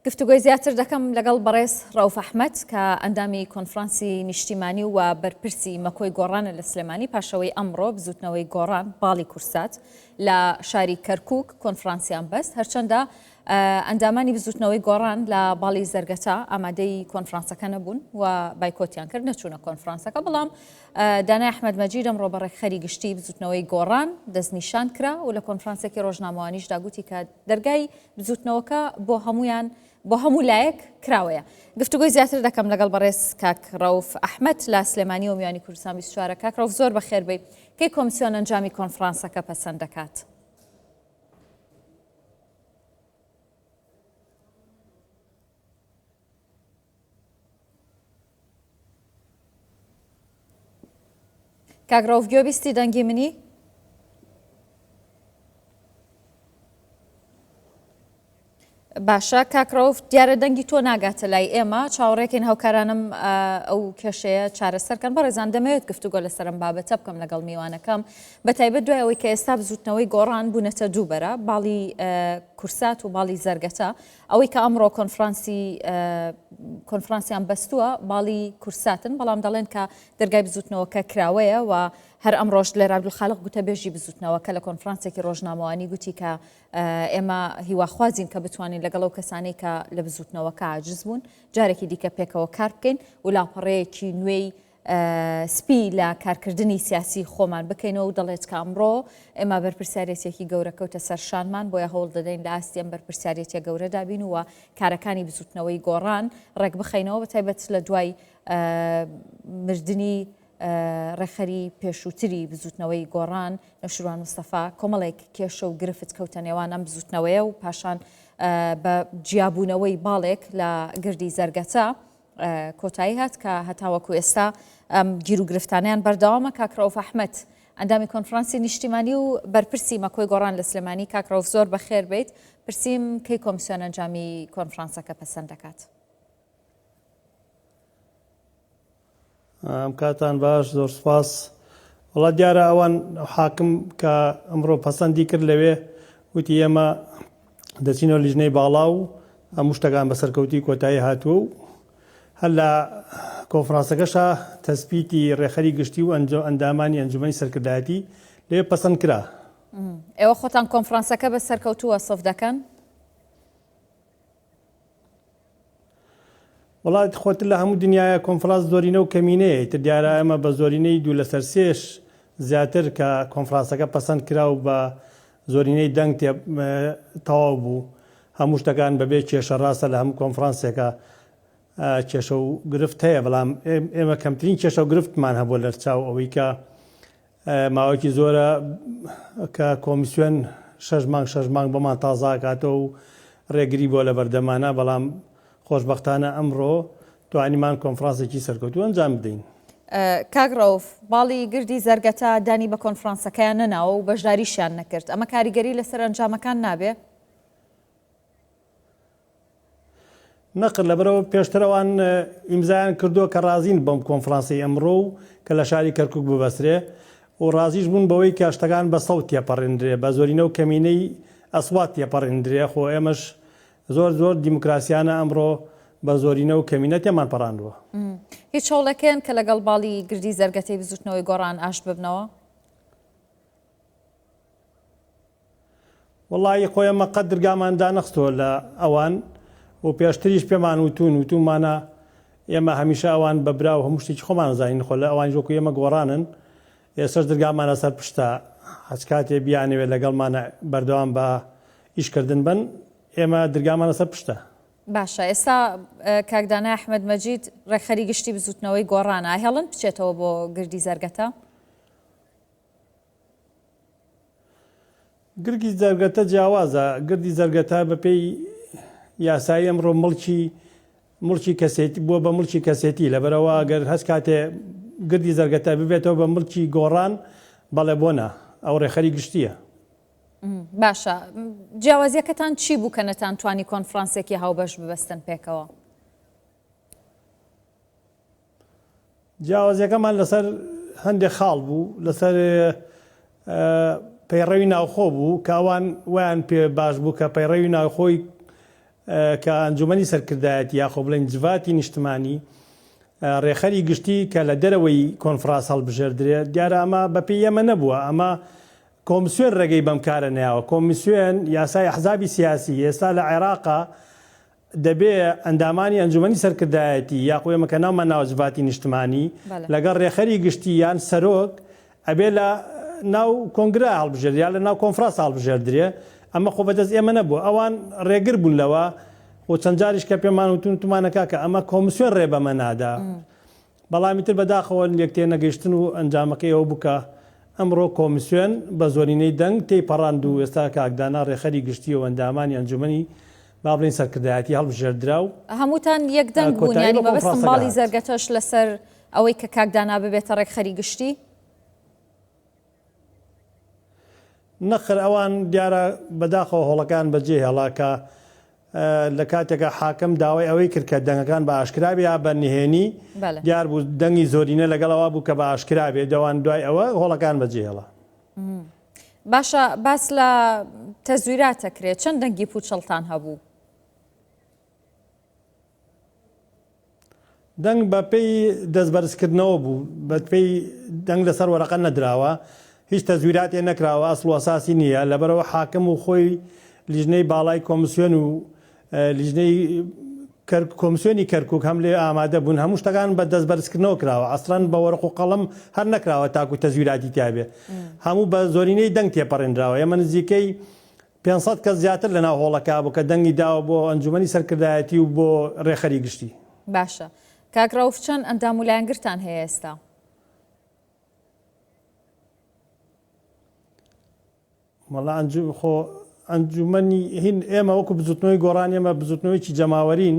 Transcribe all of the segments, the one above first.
گفتوگۆی زیاتر دەکەم لەگەڵ بەڕێز ڕەوف ئەحمەد کە ئەندامی کۆنفرانسی نیشتیمانی و بەرپرسی مەکۆی گۆڕانە لە سلێمانی پاشەوەی ئەمڕۆ بزوتنەوەی گۆڕان باڵی کورسات لە شاری کەرکک کۆنفرانسیان بەست هەرچەندە ئەندامانی بزوتنەوەی گۆڕان لە باڵی زەرگەتا ئامادەی کۆنفرانسەکە نەبوون و بایکۆتیان کرد نەچوونە کۆنفرانسەکە بەڵام دانای ئەحمد مەجید ئەمڕۆ بە ڕێکخەری گشتی بزوتنەوەی گۆڕان دەستنیشان کرا و لە کۆنفرانسێکی ڕۆژنامەوانیشدا گوتی کە دەرگای بزوتنەوەکە بۆ هەموویان بۆ هەموو لایەک کراوەیە. گفتوگۆی زیاتر دەکەم لەگەڵ بەڕێز کاک ڕەوف ئەحمەد لە سلێمانیەوە میوانی کوردستان بیست و چوار ە. کاک ڕەوف زۆر بەخێربێی. کەی کۆمسیۆن ئەنجامی کۆنفڕانسەکە پەسەند دەکات؟ کاک رەوف گوێ بیستی دەنگی منی؟ باشە کاک رەوف دیارە دەنگی تۆ ناگاتە لای ئێمە چاوەڕێکین هەوکارانم ئەو کێشەیە چارەسەرکەن بەڕێزان دەمەوێت گفتوگۆ لەسەرم بابەتە بکەم لەگەڵ میوانەکەم بە تایبەت دوای ئەوەی کە ئێستا بزوتنەوەی گۆڕان بوونەتە دووبەرە باڵی کورسات و باڵی زەرگەتە ئەوەی کە ئەمڕۆ کۆنفرانسی کۆنفرانسیان بەستووە باڵی کورساتن بەڵام دەڵێن کە دەرگای بزوتنەوەکە کراوەیە و هەر ئەم ڕۆژ لێرا عبدالخالق گوتە بێژی بزوتنەوە کە لە کۆنفرانسێکی ڕۆژنامەوانی گوتی کە ئێمە هیواخوازین کە بتوانین لەگەڵ ئەو کەسانەی کە لە بزوتنەوەکە عجز بوون جارێکی دیکە پێکەوە کار بکەین و لاپەڕەیەکی نوێی سپی لە کارکردنی سیاسی خۆمان بکەینەوە و دەڵێت کە ئەمڕۆ ئێمە بەرپرسیارێتیەکی گەورە کەوتە سەر شانمان بۆیە هەوڵ دەدەین لە ئاستی ئەم بەرپرسیارێتیە گەورەدا بین و کارەکانی بزوتنەوەی گۆڕان ڕێکبخەینەوە بە تایبەت لە دوای مردنی ڕێکخەری پێشووتری بزوتنەوەی گۆڕان نەشروان مستەفا کۆمەڵێک کێشە و گرفت کەوتە نێوان ئەم بزوتنەوەیە و پاشان بە جیابوونەوەی باڵێک لە گردی زەرگەتە کۆتایی هات کە هەتاوەکو ئێستا ئەم گیروگرفتانیان بەردەوامە کاک رەوف ئەحمەد ئەندامی کۆنفرانسی نیشتیمانی و بەرپرسی مەکۆی گۆڕان لە سلێمانی کاک رەوف زۆر بەخێر بیت پرسیم کەی کۆمسیۆن ئەنجامی کۆنفرانسەکە پەسەند دەکات ئەم کاتان باش زۆر سپاس. وەڵا دیارە ئەوان حاکم کە ئەمڕۆ پەسەندی کرد لەوێ وتی ئێمە دەچینەوە لیژنەی باڵا و هەموو شتەکان بە سەرکەوتی کۆتایی هاتووە و هەر لە کۆنفرانسەکەشا تەسبیتی ڕێخەری گشتی و ئەنجۆ ئەندامانی ئەنجومەنی سەرکردایەتی لێ پەسەند کرا ئێوە خۆتان کۆنفرانسەکە بە سەرکەوتووە سەف دەکەن؟ وەڵا خۆتر لە هەموو دنیاە کۆنفراس زۆرینە و کەمینەیە ئیتر دیارە ئەمە بە زۆرینەی دوو لەسەر سێش زیاتر کە کۆنفراسەکە پەسەند کرا و بە زۆرینەی دەنگ تێ تەواو بوو هەموو شتەکان بەبێ کێشە ڕاستە لە هەموو کۆنفرانسێکە کێشە و گرفت هەیە بەڵام ئێمە کەمترین کێشە و گرفتمان هەبوو لەرچاو ئەوەی کە ماوەیەکی زۆرە کە کۆمیسیۆن شەش مانگ شەش مانگ بۆمان تازە ئاکاتەوە و رێگری بووە لەبەردەمانا، بەڵام خۆشبەختانە ئەمڕۆ توانیمان کۆنفرانسێکی سەرکەوتوو ئەنجام بدەین. کاک رەوف، باڵی گردی زەرگەتە دانی بە کۆنفرانسەکەیان نەناوە و بەشداریشیان نەکرد، ئەمە کاریگەری لەسەر ئەنجامەکان نابێ؟ نەقل لەبەرئەوە پێشتر ئەوان ئیمزایان کردووە کە ڕازین بەم کۆنفرانسی ئەمڕۆ و کە لە شاری کەرکوک ببەسترێ و ڕازیش بوون بەوەی کە شتەکان بە سەوت تێپەڕێندرێ بە زۆرینە و کەمینەی ئەسوات تێپەڕێندرێ خۆ ئێمەش زۆر زۆر دیموکراسیانە ئەمڕۆ بە زۆرینە و کەمینە تێمان پەڕاندووە. هیچ هەوڵێکێن کە لەگەڵ باڵی گردی زەرگەتەی بزوتنەوەی گۆڕان ئاشت ببنەوە؟ وەڵایی خۆی ئەمە قەت درگامان دانەخستووە لە ئەوان و پێشتریش پێمان وتوون وتومانە ئێمە هەمیشە ئەوان بە برا و هەموو شتێکی خۆمان دەزانین خۆ لە ئەوانیش وەکو ئێمە گۆڕانن ئێستەش درگامان لەسەر پشتە هەچ کاتێ بیانەوێت لەگەڵمانە بەردەوام بە ئیش کردن بن ئێمە درگامان لەسەر پشتە. باشە ئێستا کاک دانای ئەحمەد مەجید ڕێکخەری گشتی بزووتنەوەی گۆڕانە ئاهێڵن بچێتەوە بۆ گردی زەرگەتە؟ گرگی زەرگەتە جیاوازە، گردی زەرگەتە بە پێی یاسایی ئەمڕۆ مڵکی مڵکی کەسێتی بووە بە مڵکی کەسێتی لەبەرەوە گەر هەست کاتێ گردی زەرگەتە ببێتەوە بە مڵکی گۆڕان بەڵێ بۆ نا ئەو ڕێخەری گشتیە. باشە جیاوازیەکەتان چی بوو کە نەتان توانی کۆنفرانسێکی هاوبەش ببەستن پێکەوە؟ جیاوازیەکەمان لەسەر هەندێ خاڵ بوو لەسەر پەیڕەوی ناوخۆ بوو کە ئەوان ویان پێ باش بوو کە پەیڕەوی ناوخۆی کە ئەنجومەنی سەرکردایەتی یاخۆ بڵێن جڤاتی نیشتمانی ڕێخەری گشتی کە لە دەرەوەی کۆنفراس هەڵبژێردرێ دیارە ئەمە بەپی ئێمە نەبووە ئەمە کۆمسیۆن ڕێگەی بەم کارە نیاوە کۆمیسیۆن یاسای حزابی سیاسی ئێستا لە عێراقا دەبێ ئەندامانی ئەنجومەنی سەرکردایەتی یاخو ئێمە کە ناومان ناوە جڤاتی نیشتمانی بەلێ. لەگەڵ رێکخەری گشتی یان سەرۆک ئەبێ لە ناو کۆنگرە هەڵبژێردرێ یا لە ناو کۆنفراس هەڵبژێردرێ ئەمە خۆ بەدەست ئێمە نەبووە ئەوان رێگر بوون لەوە و چەند جاریش کە پێمان وتون وتمانە کاکە ئەمە کۆمسیۆن رێ بەمە نادا بەڵام ئیتر بەداخەوە لێک تێنەگەیشتن و ئەنجامەکەی ئەوە بوو کە ئەمڕۆ کۆمیسیۆن بە زۆرینەی دەنگ تێی پەڕاند و ئێستا کاک دانا رێکخەری گشتی و ئەندامانی ئەنجومەنی با بڵێین سەرکردایەتی هەڵبژێردرا و هەمووتان یەک دەنگ بوون کۆتایی یانی بە مەبەستم کۆنفرانسەکە باڵی هات. زەرگەتەش لەسەر ئەوەی کە کاک دانا ببێتە رێکخەری گشتی؟ نەخر ئەوان دیارە بەداخەوە هۆڵەکەیان بەجێ هێڵا کە لە کاتێکا حاکم داوای ئەوەی کرد کە دەنگەکان بە ئاشکرا بێ یا بە نهێنی بەلێ دیار بوو دەنگی زۆرینە لەگەڵ ئەوە بوو کە بە ئاشکرا بێ دەوان دوای ئەوە هۆڵەکان بەجێ هێڵا. باشە باس لە تەزویرات ئەکرێ چەند دەنگی پووچەڵتان هەبوو؟ دەنگ بە پێی دەست بەرزکردنەوە بوو، بە پێی دەنگ لە سەر وەرەقە نەدراوە، هیچ تەزویراتێ نەکراوە، ئەسڵ و ئەساسی نییە، لەبەرئەوە حاکم و خۆی لیژنەی باڵای کۆمسیۆن و لیژنەی کەرک کۆمسیۆنی کەرکوک هەم لێ ئامادە بوون، هەموو شتەکان بە دەست بەرزکردنەوە کراوە، ئەسڵەن بە وەرەق و قەڵەم هەر نەکراوە تاکو تەزویراتی تیابێ، هەموو بە زۆرینەی دەنگ تێپەڕێنراوە، ئێمە نزیکەی پێنج سەد کەس زیاتر لەناو هۆڵەکە بوو کە دەنگی داوە بۆ ئەنجومەنی سەرکردایەتی و بۆ رێکخەری گشتی. باشە کاک رەوف چەند ئەندام و لایەنگرتان هەیە ئێستا؟ وەڵا ئەنجوم خۆ ئەنجومەنی هین ئێمە وەکو بزوتنەوەی گۆڕان ئێمە بزوتنەوەیەکی جەماوەرین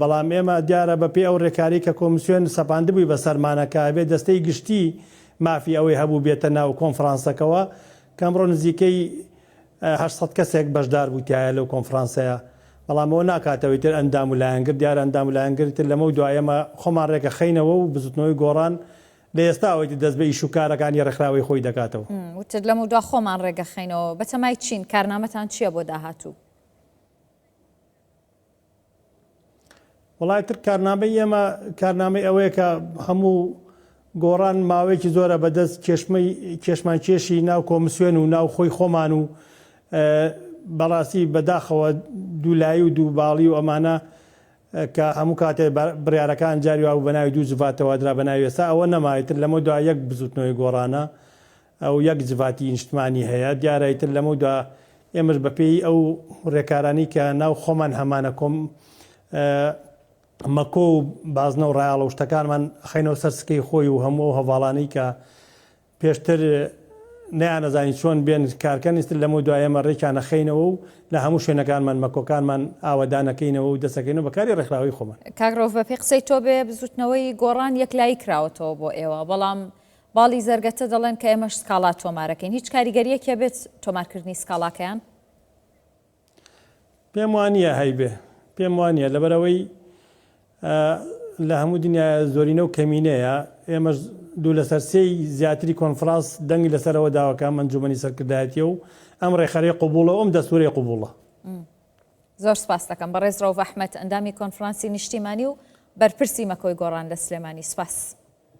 بەڵام ئێمە دیارە بە پێی ئەو رێکارەی کە کۆمسیۆن سەپاندبووی بە سەرمانە کە ئەبێ دەستەی گشتی مافی ئەوەی هەبوو بێتە ناو کۆنفرانسەکەوە کە ئەمڕۆ نزیکەی هەشت سەد کەسێک بەشدار بوو تیایا لەو کۆنفرانسەیە بەڵام ئەوە ناکات ئەوەی تر ئەندام و لایەنگر دیارە ئەندام و لایەنگری تر لەمەو دوا ئێمە خۆمان رێکە خەینەوە و بزوتنەوەی گۆڕان لە ئێستاوەی تر دەست بە ئیش و کارەکانی رێکخراوەی خۆی دەکاتەوە. وتت لەمەو دوا خۆمان رێگە خەینەوە بەتەمای چین کارنامەتان چیە بۆ داهاتوو؟ وەڵای تر کارنامەی ئێمە کارنامەی ئەوەیە کە هەموو گۆڕان ماوەیەکی زۆرە بەدەست کێشمەی کێشمان کێشی ناو کۆمسیۆن و ناو خۆی خۆمان و بەڕاستی بەداخەوە دوولایی و دوو باڵی و ئەمانە کە هەموو کاتێ بڕارەکان جاری وابوو بە ناوی دوو جڤاتەوە درا بە ناوی ئێستا ئەوە نەمایتر لەمە دو یەک بزوتنەوەی گۆڕانە ئەو یەک جڤاتی نیشتمانی هەیە دیارە ئیتر لەمەو دوا ئێمەش بە پێی ئەو رێکارانەی کە ناو خۆمان هەمانە کۆم مەکۆ و بازنە و رایاڵە و شتەکانمان خەینەوە سەر سکەی خۆی و هەموو ئەو هەڤاڵانەی کە پێشتر نەیانەزانی چۆن بێن کارکەن ئیتر لەمەو دوا ئێمە رێکیان ئەخەینەوە و لە هەموو شوێنەکانمان مەکۆکانمان ئاوەدان ئەکەینەوە و دەست ئەکەینەوە بە کاری رێکخراوەی خۆمان. کاک رەوف بە پێی قسەی تۆ بێ بزووتنەوەی گۆڕان یەکلایی کراوەتەوە بۆ ئێوە بەڵام باڵی زەرگەتە دەڵێن کە ئێمەش سکاڵا تۆمارەکەین هیچ کاریگەریەکی هەبێت تۆمارکردنی سکاڵاکەیان؟ پێم وانیە هەیبێ پێم وانە لەبەرەوەی لە هەموو دنیا زۆرینە و کەمینەیە ئێمەش دوو لەسەر سێی زیاتری کۆنفراس دەنگی لەسەرەوە داواکە منجومنی سەرکردایەتە و ئەم ڕێخەری قوبوڵە ئەم دەسوورەی قوبوڵە زۆر سپاس دەکەم بە ڕێز ڕەوڤ ئەحمد ئەندامی کۆنفرانسی نیشتیمانی و بەرپرسی مەکۆی گۆڕان لە سلێمانی سپاس.